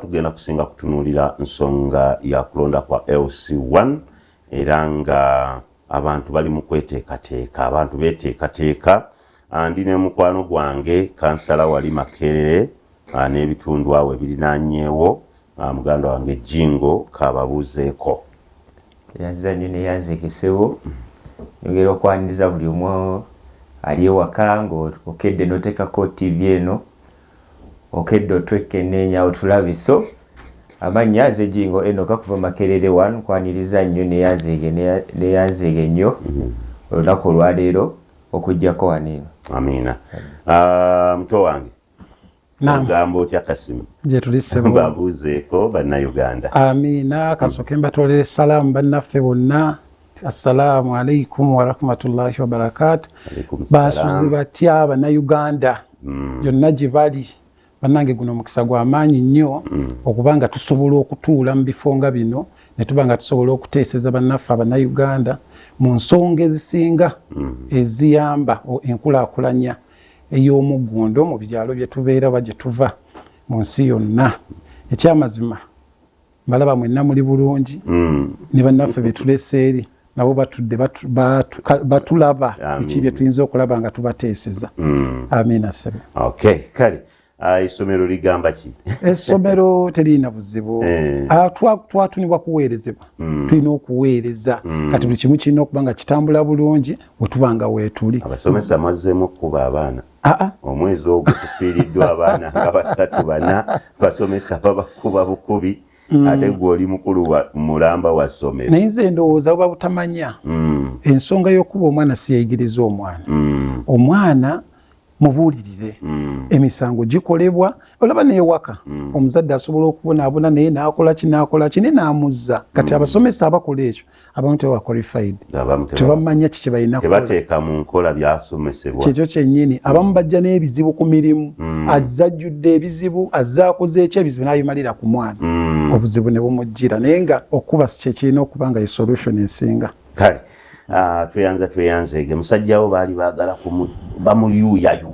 Tugenda kusinga kutunuulira nsonga ya kulonda kwa LC1 era nga abantu bali mu kweteekateeka, abantu beeteekateeka. Ah, ndi ne mukwano gwange kansala wali Makerere ah, n'ebitundu awo ebirinaanyeewo ah, muganda wange Jingo kababuuzeeko. Yanziza nnyo naye yanzeekesewo yogera okwaniriza buli omu ali ewaka ng'okedde n'oteekako ttiivi eno okedde otwekkenneenya otulabe so amannya nze jingo enoka kuva makerere one kwaniriza nnyo neyanzeege neyanzeege nnyo mhm. olunaku olwaleero okujjako waniino amiina ah, muto wange ogamba otya kasimu gyetulisebabuuzeeko bannayuganda amiina kasooke mbatolere salaamu bannaffe bonna Assalamu alaikum warahmatullahi wabarakatu. Basuzi batya bannayuganda mm. yonna gye bali bannange guno omukisa gwa maanyi nnyo mm. okuba nga tusobola okutuula mu bifo nga bino ne tuba nga tusobola okuteeseza bannaffe abannayuganda mu nsonga ezisinga mm. eziyamba enkulaakulanya ey'omuggundo mu byalo bye tubeera oba gye tuva mu nsi yonna ekyamazima mbalaba mwenna muli bulungi mm. ne bannaffe betulesa eri nabo batudde batulaba biki bye tuyinza okulaba nga tubateeseza mm. amiina sebe okay kale ah, essomero uh, ligamba ki essomero teririna buzibu eh. ah, twatunibwa kuweerezebwa mm. tulina okuweereza mm. kati buli kimu kirina okuba nga kitambula bulungi wetuba nga weetuli abasomesa mazzeemu okukuba abaana omwezi ogwo tufiiriddwa abaana nga basatu bana basomesa babakuba bukubi mm. ate gwe oli mukulu mulamba wa ssomero naye nze ndowooza buba butamanya mm. ensonga y'okuba omwana siyayigiriza omwana mm. omwana mubuulirire mm. emisango gikolebwa olaba newaka mm. omuzadde asobola okubonaabona naye nakolaki nakolaki naye namuzza kati mm. abasomesa abakola ekyo abamu tebawa qualified tebamanya kiki balina tebateeka mu nkola byasomesebwa kyekyo kyennyini abamu bajja n'ebizibu ku mirimu mm. azajjudde ebizibu azakoze ekyo ebizibu n'abimalira ku mwana mm. obuzibu ne bumujjira naye nga okuba kyekirina okuba nga ye solution esinga kale ah, tweyanza tweyanzeege musajjawo baali baagala bamuyuuyayu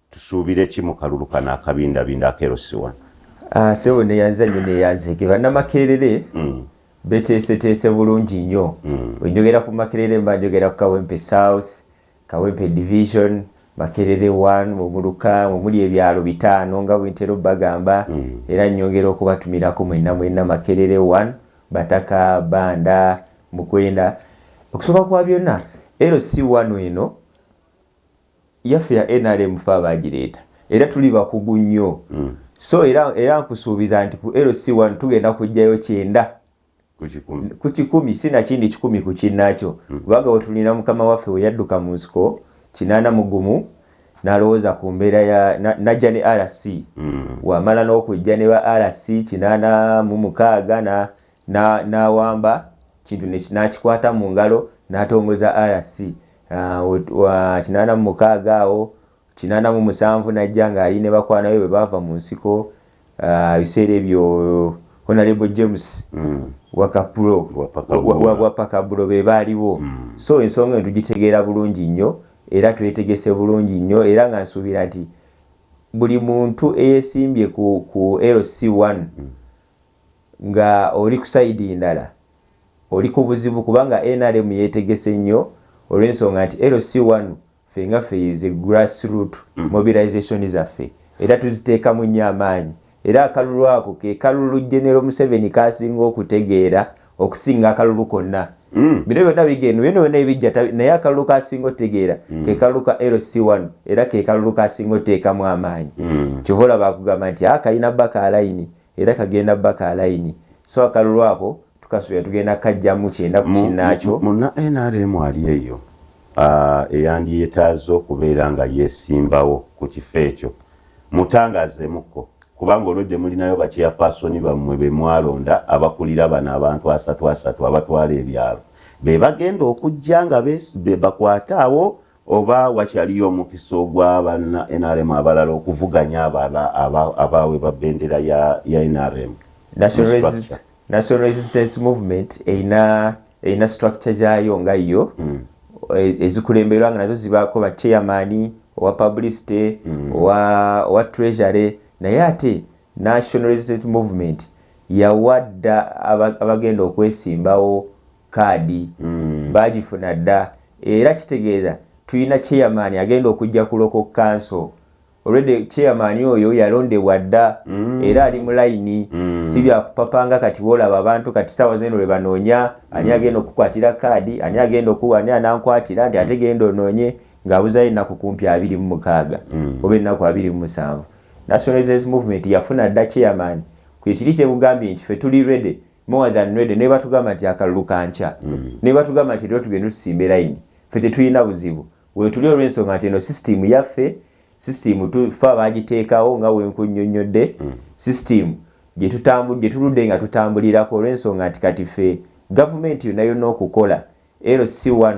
Tusuubire ki mu kalulu kano akabindabinda aka LC1? Ah, Sebo neyanza nnyo neyanzege bannamakerere mm. beteeseteese bulungi nnyo mm. wenjogera ku makerere mba njogera ku kawempe south kawempe division makerere 1 omuluka omuli ebyalo bitaano nga bwentera obbagamba mm. era nyongera okubatumirako mwenna mwenna makerere 1 bataka banda mukwenda okusooka kwa byonna lc 1 eno yaffe ya nrm fe abaagireeta era tuli bakugu nnyo mm. so era, era nkusuubiza nti ku lc1 tugenda kujjayo kyenda ku kikumi si nakindi kikumi ku kinnakyo mm. kubanga wetulina mukama waffe we yadduka mu nsiko kinaana mugumu nalowooza ku mbeera ya najja ne rc mm. wamala n'okujja ne ba rc kinaana mu mukaaga n'awamba kintu n'akikwata mu ngalo n'atongoza RC uh, kinaana mu mukaaga awo kinaana mu musanvu n'ajja ng'ali ne bakwana be bwe baava mu nsiko uh, ebiseera ebyo honorable james mm. wakapulo wapakabulo be baaliwo mm. so ensonga eno tugitegeera bulungi nnyo era twetegese bulungi nnyo era nga nsuubira nti buli muntu eyesimbye ku, ku lc1 mm. nga oli ku side ndala oli kubuzibu kubanga nrm yetegese nnyo olwensonga nti LC one ffe nga ffe ze grass root mm. mobilization zaffe era tuziteekamu nnyo amaanyi era akalulu ako ke kalulu genero museveni kasinga okutegeera okusinga akalulu konna mm. bino byonna bigeno bino byonna ebijja naye akalulu kasinga otegeera mm. ke kalulu ka lc one era ke kalulu kasinga oteekamu amaanyi mm. kyova olaba akugamba nti akalina ah, baka alayini Era kagenda ba ka layini so akalulu ako tukasuubira tugenda kukajjamu kyenda ku kinnaakyo. Munna nrm ali eyo eyandyetaaze okubeera nga yeesimbawo ku kifo ekyo mutangaazeemukko kubanga olwedde mulinayo baceyapaasoni bammwe be mwalonda abakulira bano abantu asatu asatu abatwala ebyalo be bagenda okujja nga bakwate abo oba wakyaliyo omukisa ogwa banna nrm abalala okuvuganya abala abaawe ba bendera ya nrm national resistance movement erina erina structure gyayo nga yo hmm. e, ezikulemberwa nga nazo zibaako ba chairman owa publicity hmm. owa treasury naye ate national resistance movement yawadda abagenda okwesimbawo kaadi mm. baagifuna dda era kitegeeza tulina chairman agenda okujja kuloko kanso olwedde chairman oyo yalondebwa dda mm. era ali mu layini mm. si byakupapanga kati boolaba abantu kati saawa zeno lwe banoonya ani mm. agenda okukwatira kaadi ani agenda okuwa ani anankwatira nti ate genda onoonye ng'abuzayo ennaku kumpi abiri mu mukaaga mm. oba ennaku abiri mu musanvu national resistance movement yafuna dda chairman kwe kiri kyebugambye nti fe tuli rede more than ready naye batugamba nti akalulu kankya mm. naye batugamba nti era tugenda tusimba erayini fe tetulina buzibu wetuli olw'ensonga nti eno sisitimu yaffe sisitimu tufa bagiteekawo nga wenkunyonnyodde mm. sisitimu gyetuludde nga tutambulirako olw'ensonga nti kati fe gavumenti yonna yonna okukola lc1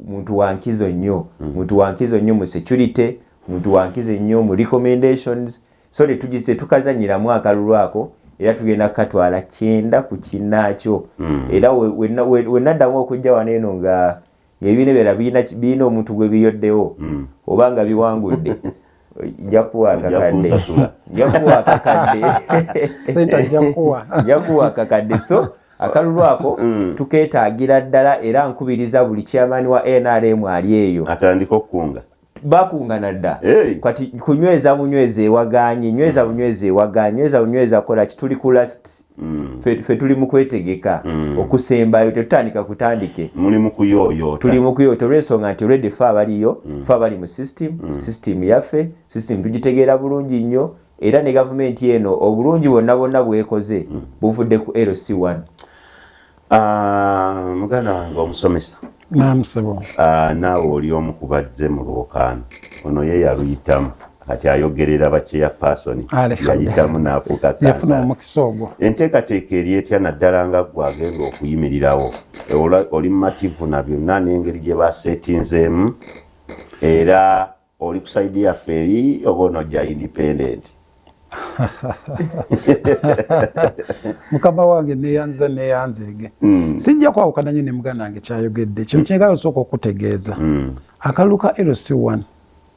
muntu wankizo nnyo mm. muntu wankizo nnyo mu security muntu wankizo nnyo mu recommendations so tetukazanyiramu akalulu ako era tugenda kukatwala kyenda ku kinaakyo mm. era wenaddamu okujja wano eno nga ngaebiina byala birina omuntu gwebiyoddewo mm. oba nga biwangudde jakuwa akakadde jakuwa akakadde sente jakuwa jakuwa akakadde so akalulu ako mm. tuketaagira ddala era nkubiriza buli chairman wa nrm ali eyo atandika okukunga bakungana dda hey. kati kunyweza bunyweza ewaganye nyweza bunyweza ewaganye nyweza bunyweza kola kituli ku last Mm. fe tuli mu kwetegeka mm. okusembayo tetutandika kutandike tuli mu kuyoyota olwensonga nti redi fe abaliyo mm. fe abali mu system system yaffe system tugitegeera bulungi nnyo era ne gavumenti eno obulungi bwonna bwonna bwekoze buvudde ku lc1 Ah, muganda wange omusomesa ah, naawe oli omu ku bazze mu lwokaano ono ye yaluyitamu kati ayogerera bakyeya paasoni yayitamu naafuuka kansala enteekateeka eri etya naddala nga ggwe agenda okuyimirirawo oli mumativu na byonna n'engeri gye baseetinzeemu era oli ku side yaffe eri oba onojja independent mukama wange neyanza neyanzege mm. sijja kwawukana nyo ne muganda wange kyayogedde kino mm. kyengala osooka okutegeeza mm. akalulu ka lc1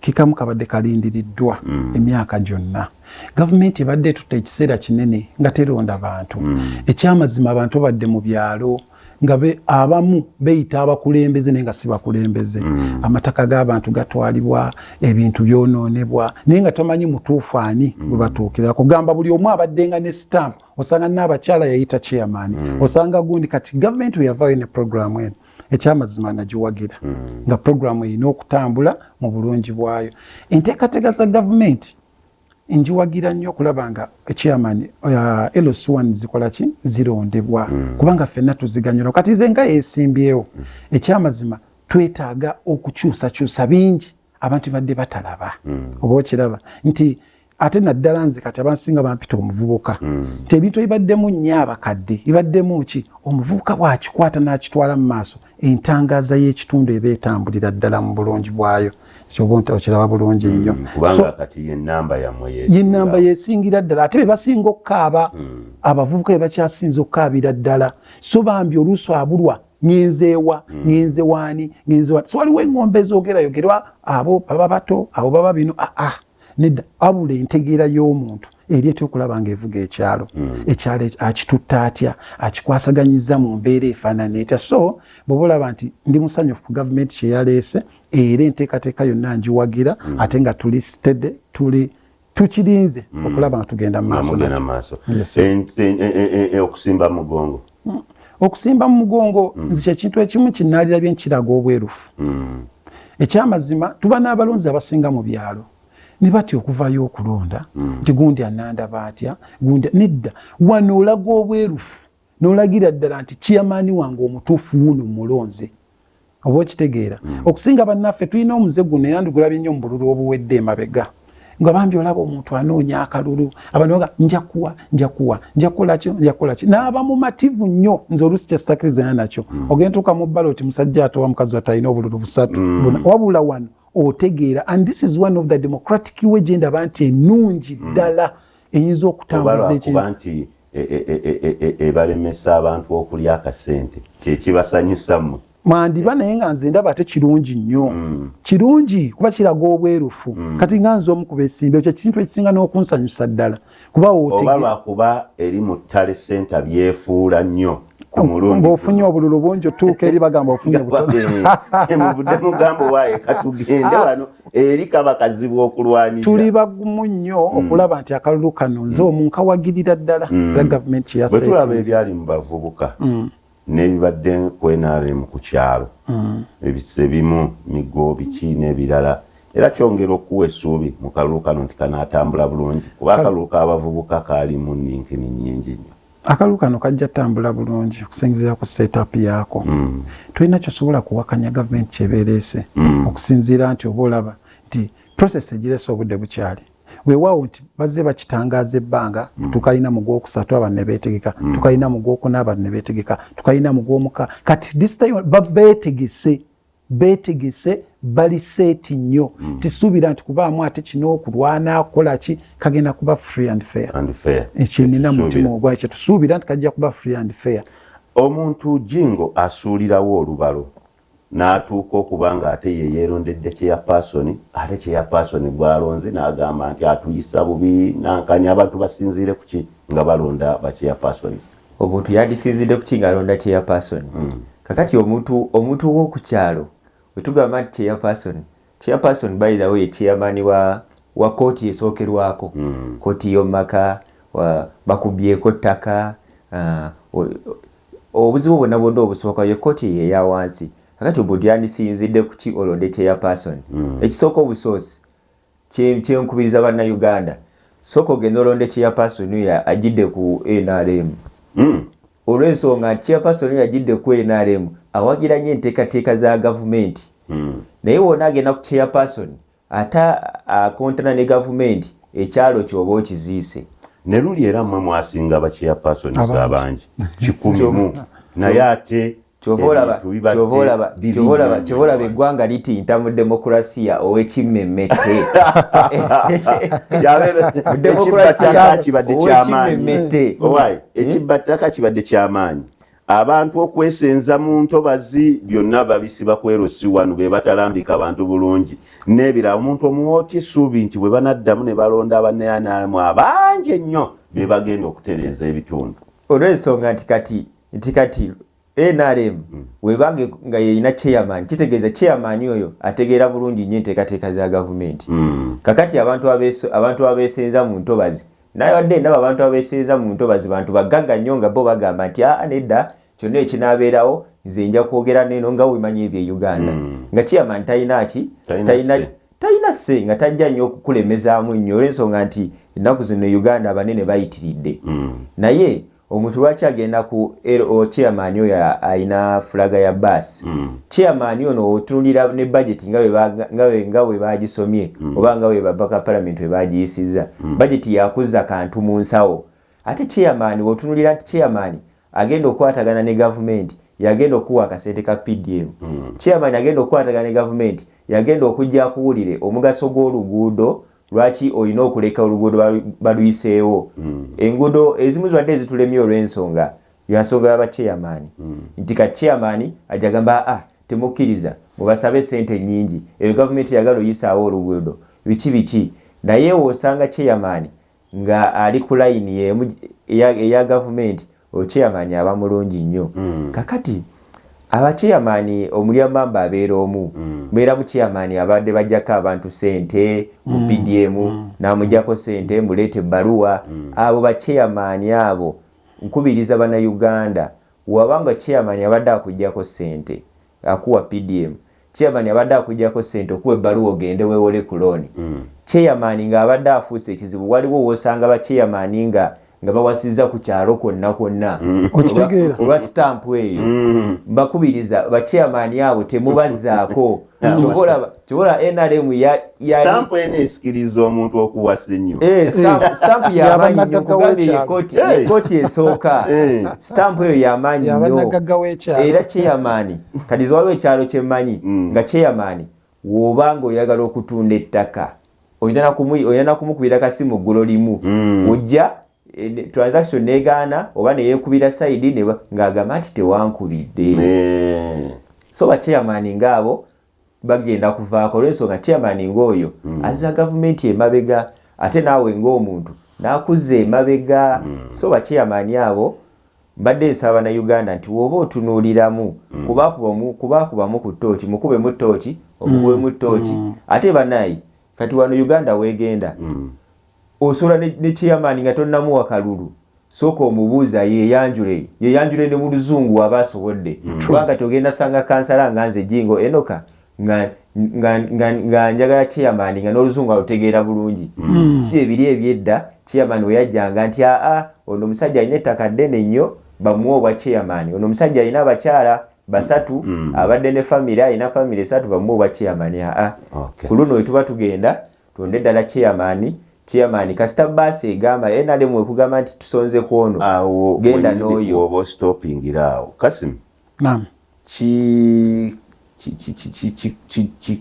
kikamu kabadde kalindiriddwa mm. emyaka gyonna gavumenti ebadde etutte ekiseera kinene nga teronda bantu mm. ekyamazima abantu badde mu byalo mm. nga be abamu beyita abakulembeze naye nga si bakulembeze mm. amataka g'abantu gatwalibwa ebintu byononebwa naye nga tomanyi mutuufu ani mm. webatuukira kugamba buli omu abaddenga ne stamp osanga naabakyala yayita chairman mm. osanga gundi kati gavumenti weyavayo ne programu eno ekyamazima nagiwagira mm. nga programu erina okutambula mu bulungi bwayo enteekateeka za gavumenti njiwagira nnyo okulaba nga chairman uh, LC1 zikola ki zirondebwa mm. kubanga fenna tuziganyula kati nze nga yesimbyewo mm. ekyamazima twetaaga okukyusakyusa bingi abantu badde batalaba mm. oba okiraba nti ate naddala nze kati abansinga bampita omuvubuka mm. nti ebintu ebibaddemu nnyo abakadde bibaddemu ki omuvubuka bwakikwata n'akitwala mu maaso entangaaza y'ekitundu eba etambulira ddala mu bulungi bwayo kyoba nti okiraba bulungi hmm, nnyo kubanga kati yenamba yamwe yenamba yesingira ddala ate bebasinga okukaaba hmm. abavubuka bebakyasinza okukaabira ddala so bambi oluusi abulwa ngenzeewa hmm. ngenzewaani ngenzewa so waliwo engombe ezogerayogerwa abo baba bato abo baba bino aa ah, ah. nedda abula entegeera y'omuntu eri etya okulaba nga evuga ekyalo hmm. ekyalo akitutta atya akikwasaganyiza mu mbeera efaanana etya so bweoba olaba nti ndi musanyufu ku gavumenti kyeyaleese era enteekateeka yonna njiwagira hmm. ate nga tuli stede tuli tukirinze hmm. okulaba nga tugenda mu maaso okusimba mugongo mm. okusimba mu mugongo mm. nze kyekintu ekimu kinaalira bye nkiraga obwerufu mm. ekyamazima tuba n'abalonzi abasinga mu byalo ne batya okuvayo okulonda mm. nti gundi anandaba atya gundi nedda wano olaga obwerufu n'olagira ddala nti kiyamaani wange omutuufu wuno mulonze oba okitegeera mm. okusinga bannaffe tulina omuze guno era ndigulabye nnyo mu bululu obuwedde emabega nga bambi olaba omuntu anoonya akalulu abantu baga njakuwa njakuwa njakukolakyo njakukolakyo naaba mumativu nnyo nze oluusi kyesitakirizaana nakyo mm. ogenda tuuka mu bbala oti musajja atowa mukazi watu alina obululu busatu mm. wabula wano otegeera and this is one of the democratic way gyendaba nti enungi mm. ddala mm. eyinza okutambuza ekintu e, e, e, ebalemesa abantu okulya akasente kyekibasanyusa mwe mwandiba naye nga nze ndaba ate kirungi nnyo mm. kirungi kuba kiraga obwerufu mm. kati nga nze omu kubesimbe ekyo ekintu ekisinga n'okunsanyusa ddala kuba wotegeoba lwakuba eri mu ttale senta byefuula nnyo ng'ofunye obululu bungi otuuka eri bagamba ofunye butonomuvuddemu eh, gambo waaye katugende ah. wano eri kaba kazibu okulwanira tuli bagumu nnyo hmm. okulaba nti akalulu kano nze hmm. omunkawagirira ddala hmm. za gavumenti yabwetulaba ebyali mu bavubuka n'ebibadde ku nrm ku kyalo ebise bimu migo biki n'ebirala era kyongera okuwa essuubi mu kalulu kano nti kanaatambula bulungi kuba akalulu k'abavubuka kaalimu ninkini nnyingi nnyo akalu kano kajja tambula bulungi okusinziira ku setup yaako mm. tolina kyosobola kuwakanya gavumenti kyebereese mm. okusinziira nti oba olaba nti process egirese obudde bukyali wewaawo nti bazze bakitangaaza ebbanga mm. tukalina mu gwokusatu abantu nebeetegeka mm. tukalina mu gwokuna abantu nebeetegeka tukalina mu gwomuka kati this time babeetegese betegese bali seeti nnyo mm. tisuubira nti kubaamu ate kino okulwana akola ki kagenda kuba free and fair ekyenina mutima ogwa kyetusuubira nti kajja kuba free and fair omuntu jingo asuulirawo olubalo n'atuuka okuba nga ate ye yeerondedde kyeyapaasoni ate kyeyapaasoni gwalonze n'agamba nti atuyisa bubi nankanya abantu basinziire kuki nga balonda bakyeyapaasoni omuntu yandisiinzidde kuki ng'alonda chairperson mm. kakati omuntu omuntu ow'oku kyalo wetugamba nti chairperson chairperson by the way chairman wa wa kooti esookerwako mm. kooti y'omumaka bakubyeko ttaka uh, obuzibu bwonna bwonna obusooka ye kooti eyo eya wansi kakati omuntu yandisiinzidde kuki olonde chairperson mm. ekisooka obusoosi kyenkubiriza banna uganda soka ogenda olonde chairperson ya ajidde ku nrm hmm. olwensonga nti chairperson ya ajidde ku nrm awagira nyo entekateeka za gavumenti hmm. naye wona agenda ku chairperson ate akontana ne gavumenti ekyalo kyoba okiziise ne luli era mwe mwasinga ba chairperson abangi kikumi mu naye ate kyovolaba eggwanga litinta mu demokurasiya owekimmemmette ekibba ttaka kibadde kyamaanyi abantu okwesenza mu ntobazi byonna babisiba kwero si wano be batalambika bantu bulungi n'ebirala omuntu omuwooti suubi nti bwe banaddamu ne balonda abaneyanalamu abangi ennyo be bagenda okutereeza ebitundu olw'ensonga nti kati nti kati nrm mm. webange nga yeyina chairman kitegeeza chairman oyo ategeera bulungi nnyo enteekateeka za gavumenti mm. kakati abantu abantu abeesenza mu ntobazi naye wadde ndaba abantu abeesenza mu ntobazi bantu bagagga nnyo nga bo bagamba nti aa nedda kyonna ekinaabeerawo nze nja kwogera neeno nga wemanyi ebyo e uganda mm. nga chairman talina ki talina talina se nga tajja nnyo okukulemezaamu nnyo olwensonga nti ennaku zino e uganda abanene bayitiridde mm. naye omuntu lwaki agenda ku LO chairman oyo alina fulaga ya bus mm. chairman ono otunulira ne budget nga we nga we bagisomye mm. oba nga we babaka parliament we bagiyisiza mm. budget yakuzza kantu mu nsawo ate chairman otunulira ati chairman agenda okwatagana ne government yagenda okuwa akasente ka PDM mm. chairman agenda okwatagana ne government yagenda okujja kuwulire omugaso gw'oluguudo lwaki olina okuleka oluguudo baluyiseewo hmm. enguudo ezimu zibadde ezitulemye olw'ensonga yansonga ya bacheyamaani hmm. nti ka cheyamaani ajja gamba a ah, temukkiriza mubasabe esente nnyingi eyo gavumenti yagala oyisaawo oluguudo biki biki naye osanga cheyamaani nga ali ku layini eya gavumenti Ocheyamani aba mulungi nnyo. Mm. Kakati abacheyamani omulya mamba abeera omu. Mm. Mbeera mucheyamani abadde bajjako abantu sente mu mm. PDM mm. namujjako sente mm. muleeta ebbaluwa. Mm. Abo bacheyamani abo nkubiriza bana Uganda wabanga cheyamani abadde akujjako sente akuwa PDM chairman abadde akujjako ssente okuwa ebbaluwa ogende weewole ku looni mm. chairman ng'abadde afuuse ekizibu waliwo woosanga ba chairman nga nga bawasizza ku kyalo kwonna kwonna mm. okitegeera olwa sitampu eyo mm. mbakubiriza ba chairman abo temubazzaako kyobola nrm stamp eno esikiriza omuntu okuwasa ennyo eh, stamp eh. yamanyi nyo kugambye ekoti eh. esooka stamp eyo yamanyi nyo era cheyamaani kadiza waliwo ekyalo kyemanyi mm. nga cheyamaani woba nga oyagala okutunda ettaka olina nakumukubira kasimu ggulo limu mm. ojja transaction negaana oba neyekubira saidi ng'agamba nti tewankubidde so bacheyamaani ngaabo bagenda kuvaako olwensonga chairman ng'oyo mm. aza gavumenti emabega ate naawe ng'omuntu nakuza emabega mm. so bachairman abo mbadde nsaba na uganda nti woba otunuuliramu mm. kubaakubamu ku tooki mukubemu tooki omukubemu tooki ate banayi kati wano uganda wegenda Osobola ne, ne chairman nga tonnamuwa kalulu sooka omubuuze ayeyanjule yeyanjule ne mu luzungu waba asobodde mm. kuba kati ogenda sanga kansala nga nze jingo enoka nga nga nga nga njagala chairman nga n'oluzungu alutegeera bulungi mm. si ebiri ebyedda chairman weyajjanga nti aa ono omusajja alina ettaka ddene nnyo bamuwa obwa chairman ono omusajja alina abakyala basatu mm. abadde ne famire alina famire esatu bamuwa obwa chairman aa okay. ku luno wetuba tugenda Tuwonde dala chairman chairman kasita bus egamba enale mwe kugamba nti tusonze kwono awo genda noyo obo stopping irawo kasim naam ki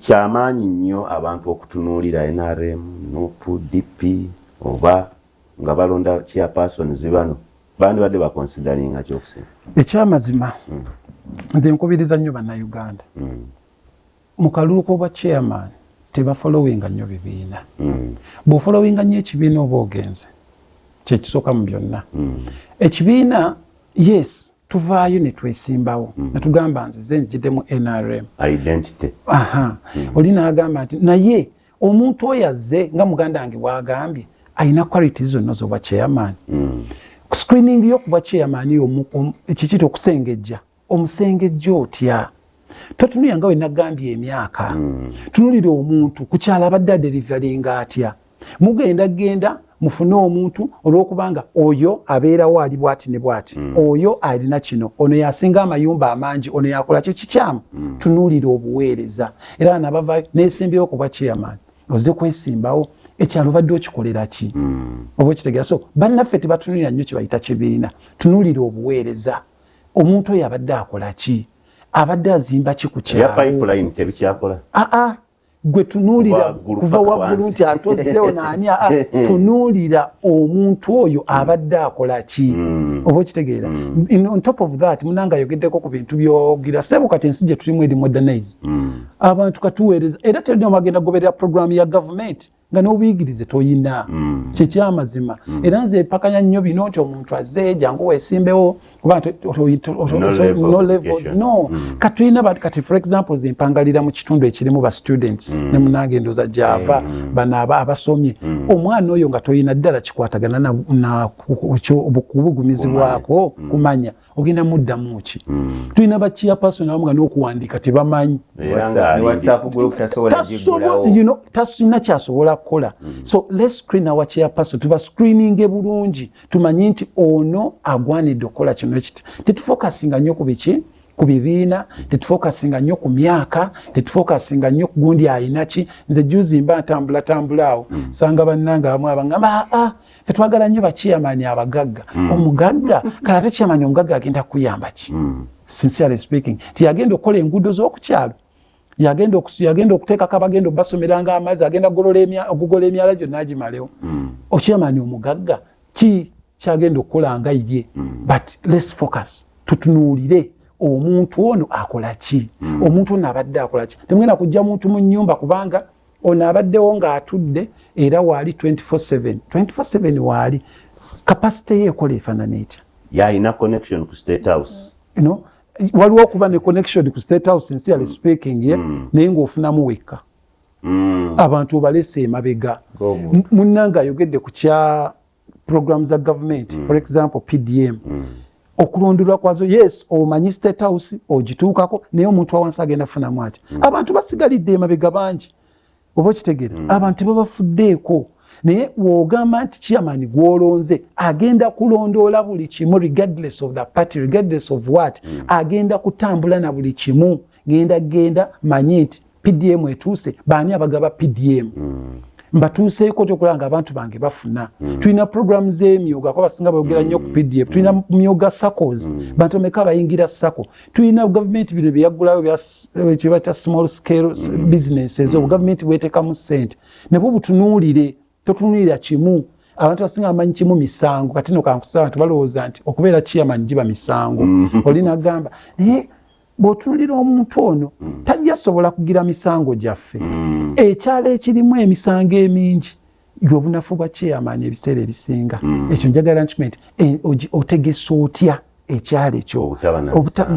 kyamaanyi nnyo abantu okutunuulira nrm nup dp oba nga balonda chairperson zibano bandibadde bakonsidalinga kyokusinga ekyamazima hmm. nze nkubiriza nnyo bannayuganda hmm. Mu kalulu k'obwa chairman tebafolowinga nnyo bibiina. Mm. Bw'ofolowinga nnyo ekibiina oba ogenze kye kisooka mu byonna. Mm. Ekibiina yes tuvaayo ne twesimbawo mm. ne tugamba nze ze njidde mu NRM. Identity. Aha. Mm. Oli n'agamba nti naye omuntu oyo azze nga muganda wange bw'agambye alina qualities zonna z'obwa chairman. Mm. Screening yo ku bwa chairman kiki okusengejja. omusengejja otya totunuya nga wenagambye emyaka mm. tunulira omuntu kukyala abadde aderivalinga atya mugenda genda mufune omuntu olwokubanga oyo abeerawo ali bwati ne bwati mm. oyo alina kino ono yasinga amayumba amangi ono yakola kyo kikyamu mm. tunulira obuweereza era nabavayo nesimbyewo kuba chairman oze kwesimbawo ekyalo badde okikolera ki mm. oba okitegera so bannaffe tebatunulira nnyo kyebayita kibiina tunulira obuweereza omuntu oyo abadde akola ki abadde azimba ki ku kyaloaa ah, ah. gwe tunuulira kuva waggulu nti atozzewo naani ah, tunuulira omuntu oyo abadde akola ki hmm. oba okitegeera hmm. on top of that munanga ayogeddeko ku bintu byogira sebo kati ensi gye tulimu eri modernize hmm. abantu katuweereza era terina omagenda goberera programu ya gavumenti nga n'obuyigirize toyina mm. kyekyamazima mm. era nze epakanya nnyo bino nti omuntu azze jangu wesimbewo kuba no levels no mm. katulina kati for example zempangalira mu kitundu ekirimu ba students ne munange endoza gyava bano aba abasomye omwana oyo nga toyina ddala kikwatagana nabukubugumizi bwako kumanya ogenda muddamu ki hmm. tulina bakiyapason abamu nga n'okuwandiika tebamanyi tasina kyasobola kukola hmm. so les screen awa kiyapason tuba screeninge bulungi tumanye nti ono agwanidde okukola kino ekiti tetufokasinga nnyo ku biki ku bibiina tetufokasinga nnyo ku myaka tetufokasinga nnyo kugundi ayinaki nze juzi mba ntambulatambula awo hmm. sanga bannange abamu abangamba aa ah, ah, fe twagala nnyo bakiyamani abagagga mm. omugagga kale ate kiyamani omugagga agenda kukuyamba ki mm. sincerely speaking ti yagenda okukola enguudo z'okukyalo yagenda yagenda okuteekako abagenda okubasomeranga amazzi agenda okugola emyala gyonna agimalewo mm. okiyamani omugagga ki kyagenda okukola nga ye mm. but less focus tutunuulire omuntu ono akola ki mm. omuntu ono abadde akola ki temugenda kujja muntu mu nyumba kubanga ono abaddewo ng'atudde era waali 24/7 24/7 waali kapasite ye ekola efaanana etya yalina connection ku state house you know, waliwo okuba ne connection ku state house nsi yali mm. speaking ye mm. naye ng'ofunamu wekka mm. abantu obalese emabega munnanga ayogedde ku kya program za government mm. for example pdm mm. okulonderwa kwazo yes omanyi state house ogituukako naye omuntu wawansi agenda funamu ati mm. abantu basigalidde emabega bangi oba okitegere mm. abantu tebabafuddeeko naye wogamba nti chairman gwolonze agenda kulondoola buli kimu regardless of the party regardless of what mm. agenda kutambula na buli kimu genda genda manyi nti pdm etuuse baani abagaba pdm mm. mbatuuseeko kyokulaba nga abantu bange bafuna mm. tulina programu z'emyoga kuba basinga boogera nnyo ku mm. pdf tulina mm. myoga sacos mm. bantu ameka bayingira saco tulina gavumenti bino byeyaggulayo kyeba kya small scale mm. businesses mm. obugavumenti bwetekamu ssente nabwo butunuulire totunulira kimu abantu basinga amanyi kimu misango kati no kankusa abantu balowooza nti okubeera kiyama njiba misango mm-hmm. oli nagamba naye bwotunulira omuntu ono mm. tajja sobola kugira misango gyaffe mm. ekyalo ekirimu emisango emingi yobunafu bwa chairman ebiseera ebisinga mm. ekyo njagala nkimanyi nti eh, otegesa otya ekyalo ekyo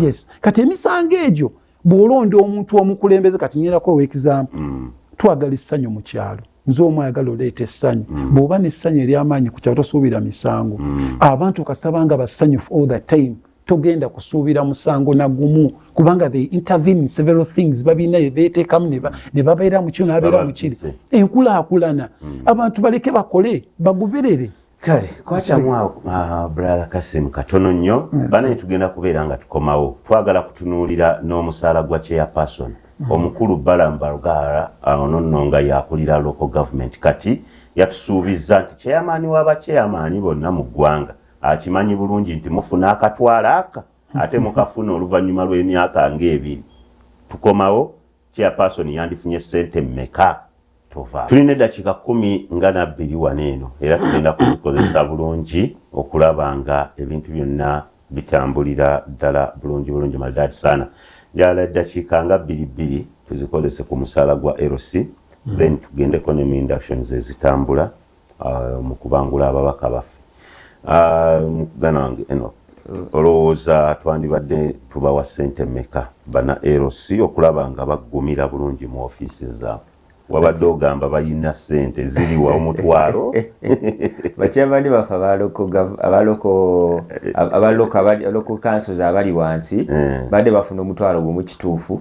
yes kati emisango egyo bwolonda omuntu omukulembeze kati nyerako owekizampu mm. twagala essanyu mu kyalo nze omu ayagala oleeta essanyu mm. bw'oba n'essanyu ery'amaanyi ku kyalo tosuubira misango mm. abantu kasaba nga basanyufu all the time togenda kusuubira musango na gumu kubanga they intervene in several things babina beteekamu ne babeera mu kino nabeera mu kiri enkulaakulana mm. abantu baleke bakole bagoberere kale kwakyamu awo ah, brother kasimu katono nnyo banaye tugenda kubeera nga tukomawo twagala kutunuulira n'omusaala gwa chairperson mm. omukulu balambargara ah, ono nno nga yakulira local government kati yatusuubizza nti chairman w'abachairman bonna mu ggwanga akimanyi bulungi nti mufuna akatwala aka ate mukafuna oluvannyuma lw'emyaka ng'ebiri tukomawo Chairperson yandifunye ssente mmeka? Tova. Tulina eddakiika kkumi nga nabbiri wano eno era tugenda kuzikozesa bulungi okulaba nga ebintu byonna bitambulira ddala bulungi bulungi Maldad Sana. Njagala eddakiika nga bbiri bbiri tuzikozese ku musaala gwa LC, hmm. then tugendeko ne mu inductions ezitambula. uh, mu kubangula ababaka baffe uh, mugana wange eno mm. olowooza twandibadde tubawa sente meka bana lc okulaba nga baggumira bulungi mu ofiisi zaabwe wabadde ogamba balina sente ziriwa omutwalo bakyabadde bafe abalokokansozi abali wansi eh. badde bafuna omutwalo gwomu kituufu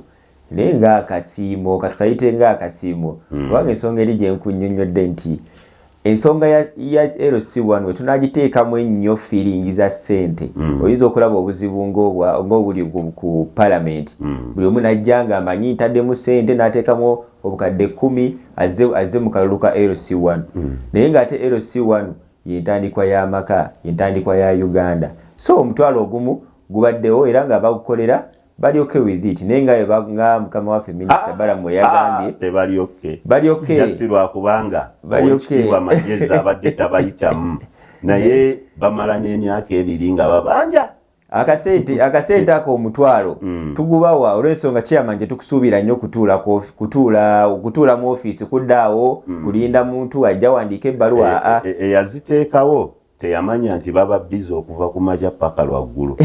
naye nga akasiimo katukayite nga akasiimo hmm. kubanga ensonga eri gye nkunnyonnyodde nti ensonga ya, ya LC1 we tunagiteekamu ennyo feeling za ssente mm. oyinza okulaba obuzibu ng'obuli ku palamenti mm. buli omu najja nga amanyi ntaddemu ssente n'ateekamu obukadde kumi azze, azze mu kalulu ka LC1 mm. naye ng'ate LC1 yentandikwa y'amaka yentandikwa ya Uganda so omutwalo ogumu gubaddewo era nga bagukolera bali okay with it naye nga nga mukama waffe minister ah, balamu ah, yagambye tebali okay bali okay just lwa kubanga bali okay wa majeza abadde tabayitamu naye bamala n'emyaka ebiri nga babanja akasente akasente ako omutwalo mm. tugubawa olwensonga chairman gye tukusuubira nnyo kutuula kutuula okutuula mu ofiisi kuddaawo mm. kulinda muntu ajja wandiika ebbaluwa eyaziteekawo e, e, e, teyamanya nti baba biza okuva ku makya paka lwaggulu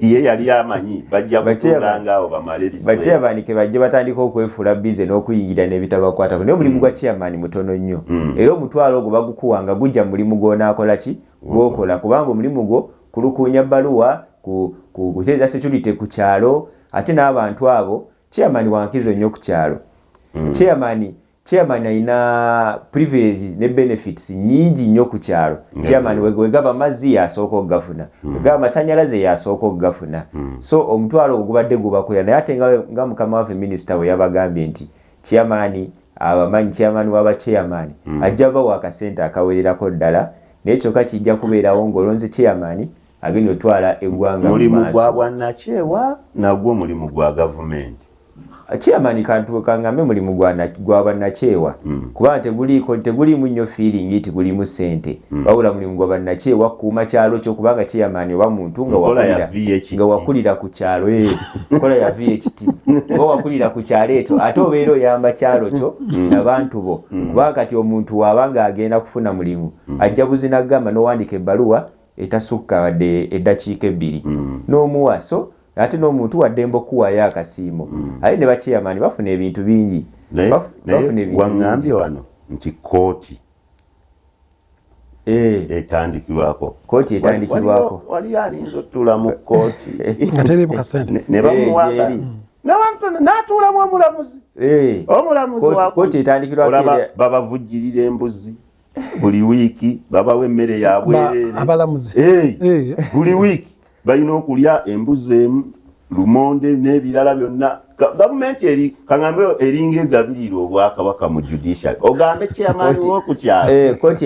ye yali amanyi bajja kutuula ngaawo bamale biseera bajja batandika okwefuula bize n'okuyingira n'ebitabakwatako naye omulimu gwa mm. chairman mutono nnyo mm. era omutwalo ogwo bagukuwa nga gujja mu mulimu gw'onaakola ki gwokola kubanga omulimu gwo kulukuunya bbaluwa kuteeza security ku kyalo ate n'abantu abo chairman wankizo nnyo ku kyalo mm. chairman Chairman alina privilege ne benefits nyingi nnyo ku kyalo. Chairman wegaba amazzi yasooka okugafuna, hmm. wegaba amasanyalaze yasooka okugafuna. Hmm. So omutwalo ogwo gubadde gubakwera naye ate nga mukama waffe minisita we yabagambye nti chairman abamanyi chairman waba chairman hmm. ajja bawa akasente akawererako ddala naye kyokka kijja kubeerawo ng'olonze chairman agenda otwala eggwanga mu maaso. Mulimu gwa bwannakyewa nagwo mulimu gwa gavumenti. chairman kantu kangambe mulimu gwana gwaba nakyewa mm. kuba teguli ko teguli munyo feeling iti guli mu sente mm. baula mulimu gwaba nakyewa kuma kyalo kyo kubanga chairman oba muntu nga wakulira nga wakulira ku kyalo eh kola ya VHT oba wakulira ku kyalo eto ato bero yamba kyalo kyo mm. na bantu bo mm. kubanga kati omuntu wabanga agenda kufuna mulimu mm. ajja buzina gamba no wandike baluwa etasukka wadde eddakiika ebbiri mm. n'omuwa so ate n'omuntu waddembe okukuwaayo akasiimo mm. aye ne baceyamaani bafuna ebintu bingi waŋambye wano nti kooti eh. etandikibwako kooti etandikibwako wali alinza otuula mu kooti ne bamuwaga eh, n'atuulamu omulamuzi eh. omulamuzi babavujjirira embuzi buli wiiki babawa emmere ya bwereere abalamuzi buli wiiki balina okulya embuzi emu lumonde n'ebirala byonna gavumenti eri kagambe eringa egabirira obwakabaka mu judiciary ogambe chairman wokukyalokooti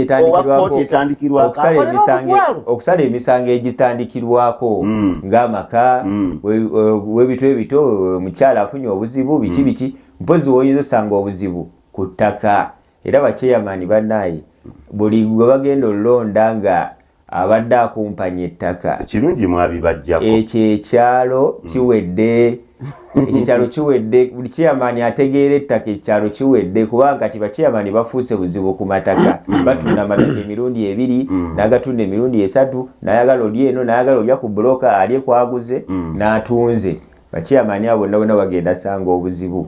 etandikirwaokusala emisango egitandikirwako hmm. ng'amaka hmm. webitu ebito omukyala afunye obuzibu biki hmm. biki mpozi woyinza osanga obuzibu ku ttaka era bakyeyamani banaye buli gwe bagenda olulonda nga abadde akumpanya ettaka ekirungi mwabibajjako ekyo ekyalo mm. kiwedde ekyalo kiwedde buli kyeyamani ategeera ettaka ekyalo kiwedde kubanga kati bakyeyamani bafuuse buzibu ku mataka mm. batunda amataka emirundi ebiri mm. nagatunda emirundi esatu nayagala oli eno nayagala olya ku buloka alye kwaguze natunze bakyeyamani abo bonna bonna bagenda sanga obuzibu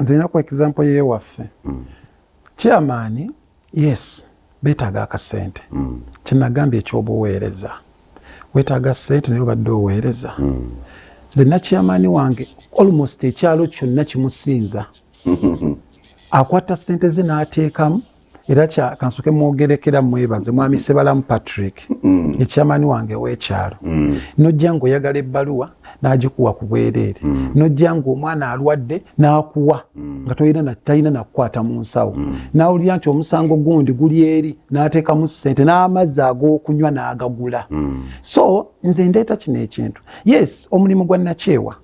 nze ninaku example yewaffe mm. chairman yes betaaga akasente mm. kyenagambye ekyobuweereza wetaaga sente naye obadde oweereza mm. nze nakyamaani wange almost ekyalo kyonna kimusinza akwata sente ze n'ateekamu era kya kansoke mwogerekera mwebaze mwami sebalamu patrick mm. ekyamani wange wekyalo mm. nojja nga oyagala ebbaluwa n'agikuwa ku bwereere mm. nojja nga omwana alwadde n'akuwa mm. nga tolina talina nakukwata mu nsawo mm. n'awulira nti omusango gundi guli eri n'ateekamu ssente n'amazzi ag'okunywa n'agagula mm. so nze ndeeta kino ekintu yes omulimu gwa nakyewa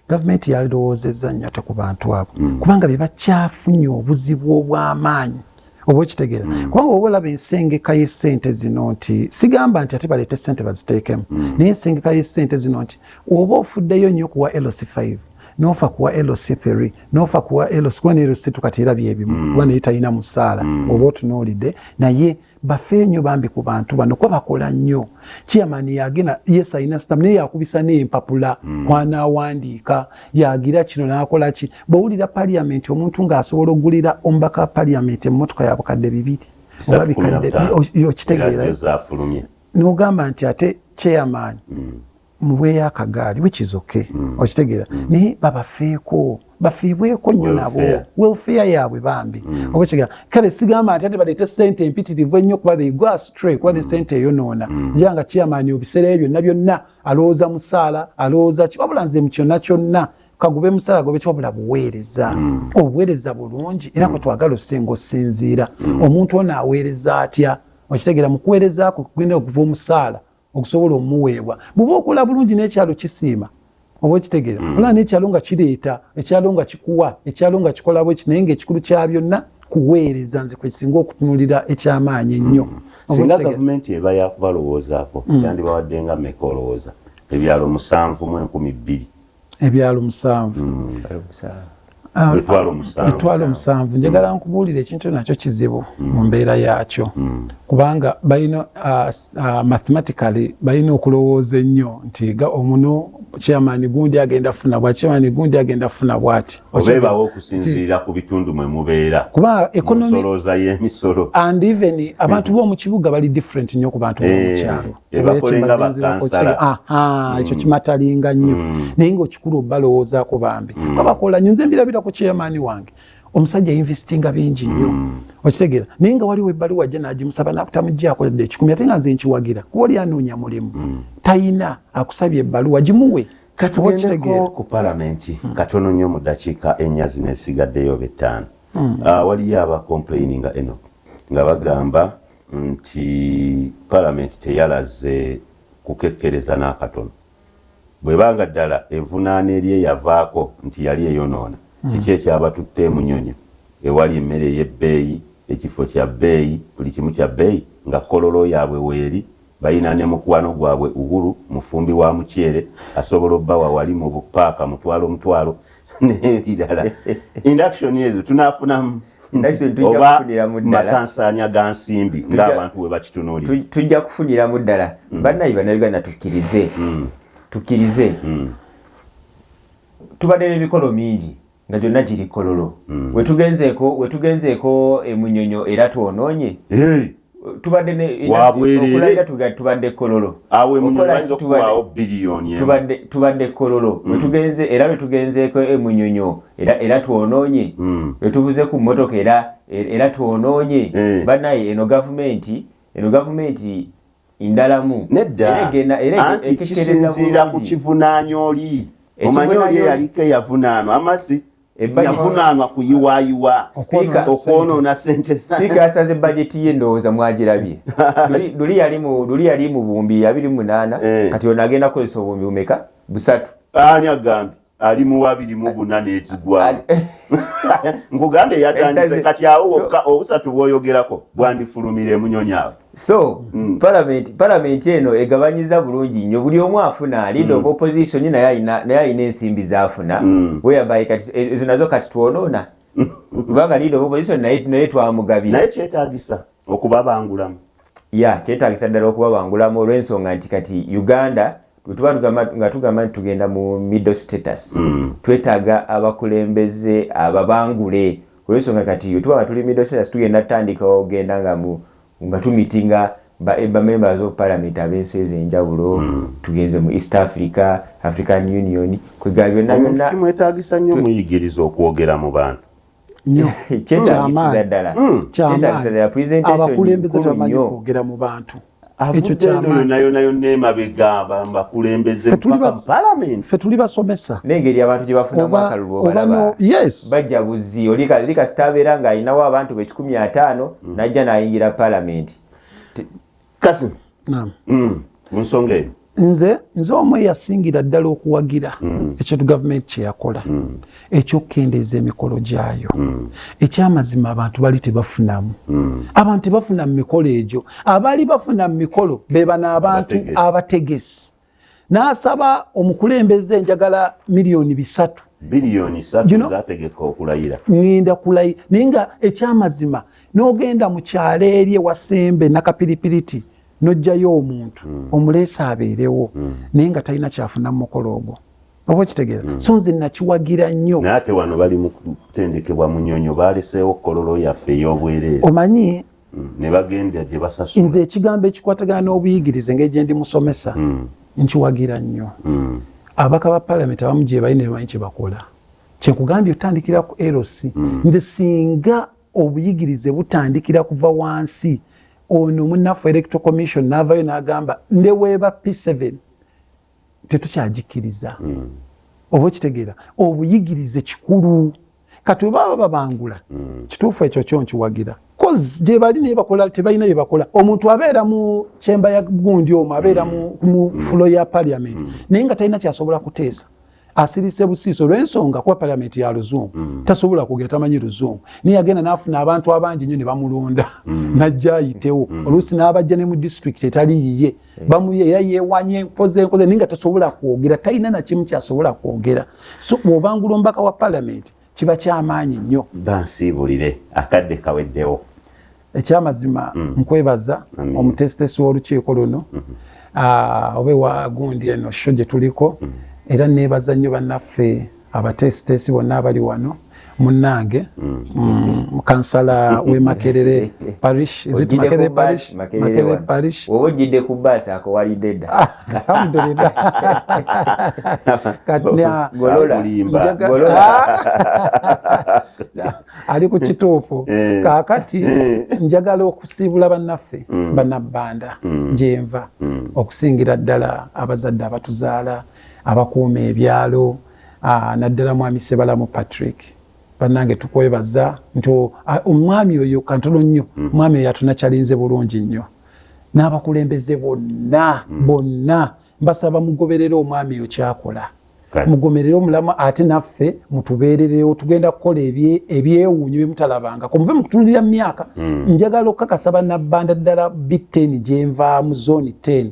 gavumenti yalirowoozezza nnyo ate ku bantu abo mm. kubanga be bakyafunye obuzibu obw'amaanyi oba okitegeera mm. kubanga oba olaba ensengeka y'essente zino nti sigamba nti ate baleete ssente baziteekemu mm. naye ensengeka y'essente zino nti oba ofuddeyo nnyo kuwa lc 5 nofa kuwa lc 3 nofa kuwa lc kuba ne lc tukati era byebimu kuba naye talina musaala oba otunuulidde naye bafeeyo nnyo bambi ku bantu bano kuba bakola nnyo chairman yagenda yes alina stam naye yakubisa n'empapula mm. kwanaawandiika yagira kino n'akola ki bwewulira paliamenti omuntu ng'asobola okugulira omubaka wa paliamenti emmotoka ya bukadde bibiri oba bikadde okitegeera n'ogamba nti ate chairman mm. muweeyo akagaali which is okay mm. okitegeera mm. naye babafeeko bafiibweko nnyo nabo welfare yaabwe bambi mm. oba kigera kale sigamba nti ate baleete sente empitirivu ennyo kuba they go astray kuba ne mm. sente eyonoona mm. ja nga kiyamaani obiseera ebyo byonna byonna alowooza musaala alowooza ki wabula nze mu kyonna kyonna kagube musala gobe kyobula buweereza mm. obuweereza bulungi era mm. kwetwagala osenga osinziira mm. omuntu ono aweereza atya okitegera mukuweereza kwe kugenda okuva omusaala okusobola omuweebwa bwoba okola bulungi n'ekyalo kisiima oba okitegeera mm. olaba n'ekyalo nga kireeta ekyalo nga kikuwa ekyalo nga kikolabw eki naye ngaekikulu kya byonna kuweereza nze kwekisinga okutunulira ekyamaanyi ennyo mm. singa gavumenti eba yakubalowoozaako mm. yandibawadde nga meka olowooza ebyalo musanvu mu enkumi bbiri ebyalo musanvu etwalo hmm. omusanvu hmm. njagala nkubuulira ekintu nakyo kizibu hmm. mu mbeera yaakyo kubanga balina ah, ah, mathematically balina okulowooza ennyo nti omuno chairman gundi agenda funa bwa chairman gundi agenda funa bwati obebawo okusinziira ku bitundu mwe mubeera kuba economy soloza ye misolo and even abantu mm. bo mu kibuga bali different nyo ku bantu bo mu eh. kyalo ah, ekyo mm. kimatalinga nnyo mm. naye ngaokikulu obalowoozako bambi mm. abakola nyo nze mbirabira ku chairman wange omusajja yinvestinga bingi nnyo mm. okitegera naye nga waliwo ebbali wajja nagimusaba nakutamugyako dde ekikumi ate nga nze nkiwagira kuba oli anoonya mulimu mm. tayina akusabye ebbaluwa gimuwe katugendeko ku palamenti mm. katono nnyo mu dakiika ennya zino esigaddeyo betaano mm. ah, waliyo abakomplaini nga eno nga bagamba nti Palamenti teyalaze kukekkereza n'akatono. Bw'eba nga ddala evunaana eri eyavaako nti yali eyonoona, kiki ekyabatutte e Munyonyo ewali emmere ey'ebbeeyi, ekifo kya bbeeyi, buli kimu kya bbeeyi nga Kololo yaabwe weeri, Balina ne mukwano gwabwe Uhuru, mufumbi wa muceere, asobola obawa wali mu bu paaka mutwalo mutwalo n'ebirala. Induction ezo tunaafunamu oba masansaanya ga nsimbi ng'abantu bwe bakitunuulira? Tujja kufuniramu ddala. Mm. Bannayi Bannayuganda tukkirize, mm. tukkirize. Mm. Tubadde n'emikolo mingi. nga gyonna giri kololo mm. wetugenzeeko wetugenzeeko emunyonyo era twonoonye hey. tubadde neokulabira tubadde kololo tubadde kololo mm. wetugenze era lwetugenzeeko emunyonyo era twonoonye mm. wetuvuze ku mmotoka era era twonoonye eh. banaye eno gavumenti eno gavumenti ndalamu nedda anti kisinziira ku kivunaanya oli omanyi oli eyaliko eyavunaanwa amazzi yavunaanwa kuyiwayiwa okwonoona sente sipiika yasaze bajeti ye ndowooza mwagirabye luli yali mu bumbi abiri munaana eh. kati ono agenda kukozesa obumbi bumeka busatu ani agambye ali mu abiri mu buna n'ekigwamu nkugambye yatandise kati awo wokka obusatu bwoyogerako bwandifulumira emunyonyi awo so mm. palamenti palamenti eno egabanyiza bulungi nnyo buli omu afuna alida mm. oba opposition naye alina ensimbi zafuna mm. weyabaye kati e, ezo nazo kati twonoona kubanga lida oba opposition naye twamugabira naye kyetagisa okubabangulamu ya kyetagisa ddala okubabangulamu olw'ensonga nti kati uganda wetuba nga tugamba nti tugenda mu middle status mm. twetaaga abakulembeze ababangule olwensonga kati wetuba nga tuli middle status tugenda tutandika ogenda nga mu nga tumitinga bamemba ba zopalamenti ab'ensi ez'enjawulo mm. tugenze mu east africa african union kwegala byonna byonna kimwetagisa nnyo muyigiriza okwogera mu bantu nyo kyetaagisiza ddala mm. kyetaagisiza ddala presentation abakulembeze tebamanyi kwogera mu bantu ekyo kyamaanyife tuli basomesa nengeri abantu gye bafunamu akalulu obalaba bajja buzzi olikasita abeera ng'alinawo abantu be kikumi ataano mm. najja n'ayingira palamenti kasi naam mm. munsonga eyo nze nze omu eyasingira ddala okuwagira mm. ekintu gavumenti kyeyakola mm. ekyokukendeeza emikolo gyayo mm. ekyamazima abantu bali tebafunamu abantu tebafuna mu mikolo egyo abaali bafuna mu mikolo bebano abantu abategesi n'asaba omukulembeze enjagala miliyoni bisatu biliyoni satu zategeka okulayira ngenda kulayira naye nga ekyamazima n'ogenda mu kyalo eri ewasembe nakapiripiriti n'ojjayo omuntu hmm. omuleesa abeerewo hmm. naye nga talina kyafuna mu mukolo ogwo oba okitegeera hmm. so nze nakiwagira nnyo naye ate wano bali mu kutendekebwa munyonyo baaleseewo kololo yaffe ey'obwereere omanyi mm. ne bagenda gye basasula. Nze ekigambo ekikwatagana n'obuyigirize engeri gye ndi musomesa mm. nkiwagira nnyo. Mm. Ababaka ba palamenti abamu gye bali ne bamanyi kye bakola. Kye nkugambye otandikira ku LC. Mm. Nze singa obuyigirize butandikira kuva wansi ono munnaffe electro commission n'avayo n'agamba ne weeba P7 tetukyagikiriza. Mm. oba okitegeera obuyigirize kikulu kati webaba babangula mm. kituufu ekyo kyo nkiwagira coz gyebali naye bakola tebalina bye bakola omuntu abeera mu kyemba ya gundi omu abeera mu mm. fulo ya parliament mm. naye nga talina kyasobola kuteesa asirise busiiso olwensonga kuba parliament ya luzungu mm. tasobola kugera tamanyi luzungu naye agenda nafuna abantu abangi nyo ne bamulonda mm. najja ayitewo mm. oluusi n'abajja ne mu district etali yiye bamuyeya yewanye nkoze nkoze naye nga tasobola kwogera talina nakimu kyasobola kwogera so bwobangula omubaka wa palamenti kiba kyamaanyi nnyo bansiibulire akadde kaweddewo ekyamazima mm. nkwebaza omutesitesi w'olukiiko luno mm -hmm. Ah, oba ewa gundi eno sho gye tuliko mm. era neebaza nnyo bannaffe abateesiteesi bonna abali wano munnange mm, mm, kansala we makerere parish makerere parish oba ojjidde ku baasi ako walidde dda ah, alhamdulillah ali ku kituufu eh. kaakati eh. njagala okusiibula bannaffe mm. bannabbanda gyenva okusingira ddala abazadde abatuzaala abakuuma ebyalo ah, naddala mwami sebalamu patrick banange tukwebaza nti ah, omwami oyo kantono nnyo mm. mwami oyo atunakyalinze bulungi nnyo n'abakulembeze bonna mm. bonna mbasaba mugoberere omwami oyo kyakola mugomerere omulamu ate naffe mutubeererewo tugenda kukola ebyewuunyo byemutalabangako muve mukutunulira mu myaka mm. njagala okukakasa banabbanda ddala bi 10 gyenvaamu zoni 10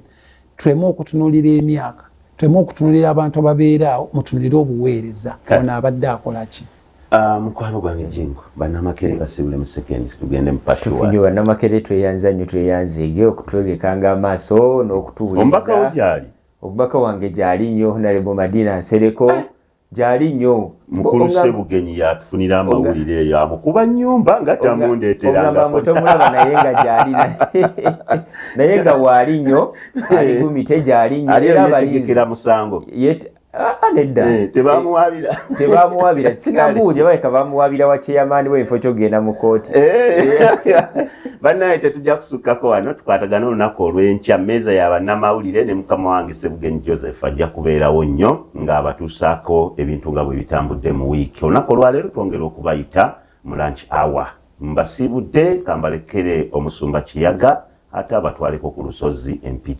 tuleme okutunulira emyaka tuleme okutunulira abantu ababeera awo mutunulire obuweereza ono abadde akola ki ah, mukwano gwange jingo banamakere basibule mu seconds tugende mu pashiwayo banamakere tweyanza nnyo tweyanze ge okutwegekanga amaaso n'okutuwuliriza omubaka wo gyali omubaka wange gyali nnyo honalebo madina nsereko eh. gyali nyo mukulu sebugenyi yatufunira amawulire eyo amukuba nyumba nga tamundeterangatomulaba naye nga gyali naye nga waali nyo ali gumite gyali nyo era abalinzira musango nedda eh, tebamuwabira tebamuwabira sinabuuja baleka bamuwabira wa chairman wenfo kyogenda mu kooti eh. bannaye tetujja kusukkako wano tukwatagana olunaku olw'enkya meeza ya bannamawulire ne mukama wange sebugenyi joseph ajja kubeerawo nnyo nga abatuusaako ebintu nga bwebitambudde mu week olunaku olwaleero twongera okubayita mu lunch hour mbasiibudde kambalekere omusumba kiyaga ate abatwaleko ku lusozi empigi.